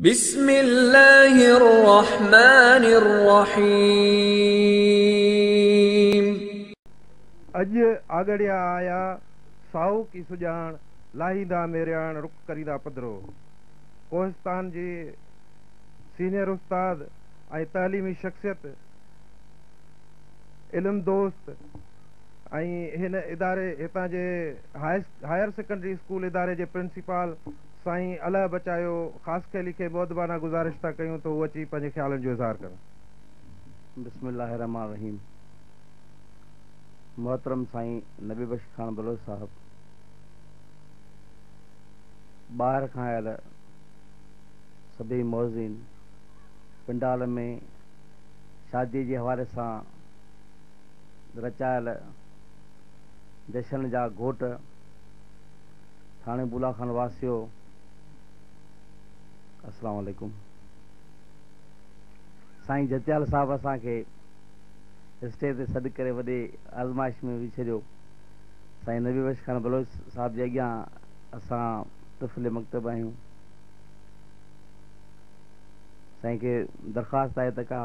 بسم الله الرحمٰن الرحيم. اڄ آڳڙيا آيا، سائوڪ ئي سڄاڻ، لاهيندا ميرياڻ، رخ ڪريندا پڌرو. ڪوهستان جي سينئر استاد ۽ تعليمي شخصيت، علم دوست ۽ هن اداري هتان جي هائر سيڪنڊري اسڪول اداري جي پرنسپال، سائين الاهه بچايو خاصخيلي کي مؤدبانه گذارش ٿا ڪيون ته هو اچي پنهنجي خيالن جو اظهار ڪن. بسم الله الرحمٰن الرحيم محترم سائين نبي بخش خان بلوچ صاحب ٻاهر کان آيل سڀيئي معززين پنڊال ۾ شادي جي حوالي سان رچايل جشن جا گهوٽ ٿاڻي بولا خان واسيو السلام عليڪم سائين جتيال صاحب اسان کي اسٽيج تي سڏ ڪري وڏي آزمائش ۾ وجھي ڇڏيو سائين نبي بخش خان بلوچ صاحب جي اڳيان اسان طفل مڪتب آهيون سائين کي درخواست آهي ته ڪا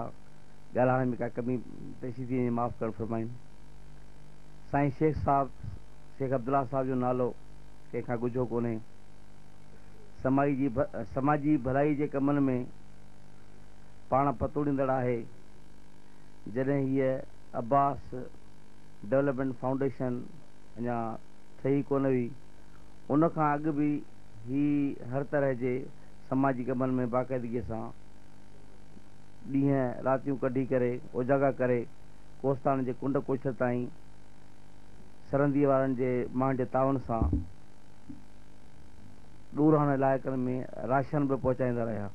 ڳالهائڻ ۾ ڪا ڪمي پيشي ٿي وڃي معاف ڪرڻ فرمائين سائين شيخ صاحب شيخ عبدالله صاحب جو نالو ڪنهن کان ڳجهو ڪونهي. سمائي جي سماجي ڀلائي جي ڪمن ۾ پاڻ پتوڙيندڙ آهي. جڏهن هيء عباس ڊولپمينٽ فائونڊيشن اڃا ٺهي ڪونه هئي، ان کان اڳ به هي هر طرح جي سماجي ڪمن ۾ باقاعدگيء سان ڏينهن راتيون ڪڍي ڪري اوجاڳا ڪري ڪوستاڻ جي ڪنڊ ڪوڇر تائين سرنديء وارن جي ماڻهن جي تعاون سان ڏورانهن علائقن ۾ راشن به پهچائيندا رهيا.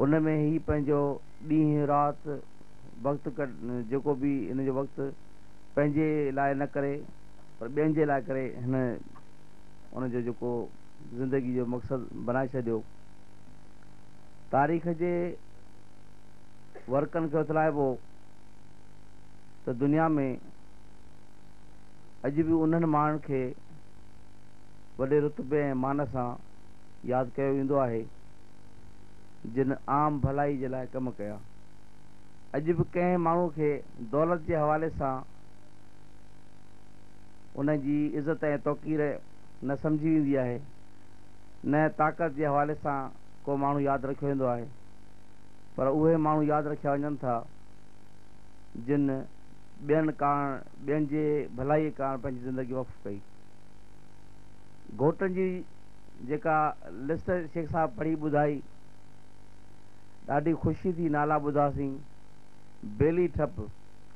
ان ۾ هي پنهنجو ڏينهن رات وقت جيڪو به هن جو وقت پنهنجي لاء نه ڪري پر ٻين جي لاء ڪري هن ان جو جيڪو زندگي جو مقصد بنائي ڇڏيو. تاريخ جي ورقن کي اٿلائبو. ته دنيا ۾ اڄ به انهن ماڻهن کي وڏي رتبي ۽ مان سان ياد ڪيو ويندو آهي، جن عام ڀلائي جي لاء ڪم ڪيا. اڄ به ڪنهن ماڻهو کي دولت جي حوالي سان ان جي عزت ۽ توقير نه سمجهي ويندي آهي، نه طاقت جي حوالي سان ڪو ماڻهو ياد رکيو ويندو آهي، پر اهي ماڻهو ياد رکيا وڃن ٿا، جن ٻين ڪاڻ ٻين جي ڀلائي ڪاڻ پنهنجي زندگي وقف ڪئي. گهوٽن جي جيڪا لسٽ شيخ صاحب پڙهي ٻڌائي، ڏاڍي خوشي ٿي نالا ٻڌاسين، بيلي ٺپ،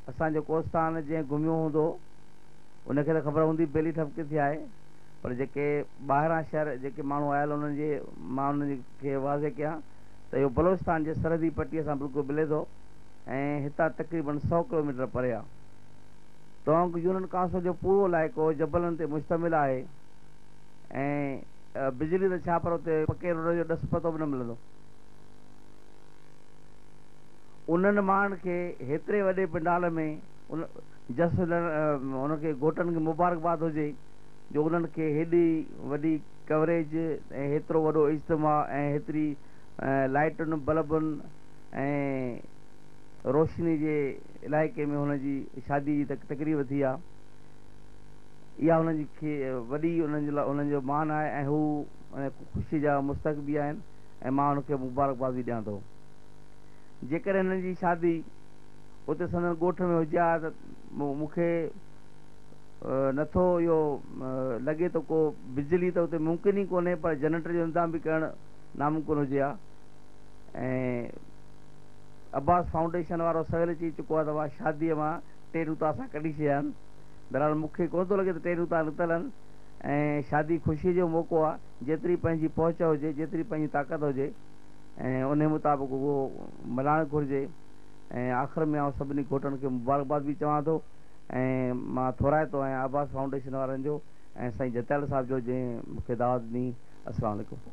اسان جو ڪوستان جنهن گهميو هوندو ان کي ته خبر هوندي بيلي ٺپ ڪٿي آهي پر جيڪي ٻاهران شهر جيڪي ماڻهو آيل انهن جي مان انهن کي واضح ڪيان ته اهو بلوچستان جي سرحدي پٽي سان بلڪل ملي ٿو. ۽ هتان تقريبن سؤ ڪلوميٽر پري آهي. ٽونگ يونن ڪاسو جو پورو علائقو جبلن تي مشتمل آهي ۽ بجلي ته ڇا پر اتي پڪي روڊ جو ڏس پتو به نه ملندو. انهن ماڻهن کي هيتري وڏي پنڊال ۾ جس لهڻ انهن کي گهوٽن کي مبارڪباد هجي جو انهن کي هيڏي وڏي ڪوريج ۽ هيترو وڏو اجتماع ۽ هيتري لائيٽن بلبن ۽ روشني جي علائقي ۾ هن جي شادي جي تقريب ٿي آ اها هن جي کي وڏي انهن جو مان آهي ۽ هو خوشي جا مستحق به آهن ۽ مان هن کي مبارڪباد به ڏيان ٿو جيڪڏهن هنن جي شادي اتي سندن ڳوٺ ۾ هجي ها ته مون کي نٿو اهو لڳي ته ڪو بجلي ته اتي ممڪن ئي ڪونهي پر جنريٽر جو انتظام به ڪرڻ ناممڪن هجي ها ۽ عباس فائونڊيشن وارو سويل ئي چئي چڪو آهي ته مان شاديء مان ٽي نوتا سان ڪڍي ڇڏيا آهن. بهرحال مون کي ڪونه ٿو لڳي ته ٽي نوتا نڪتل آهن ۽ شادي خوشيء جو موقعو آهي، جيتري پنهنجي پهچ هجي، جيتري پنهنجي طاقت هجي ۽ انهيء مطابق اهو ملهائڻ گهرجي ۽ آخر ۾ آئون سڀني گهوٽن کي مبارڪباد به چوان ٿو ۽ مان ٿورائتو آهيان عباس فائونڊيشن وارن جو ۽ سائين جتائڙ صاحب جو جنهن مون کي دعوت ڏني. السلام عليڪم.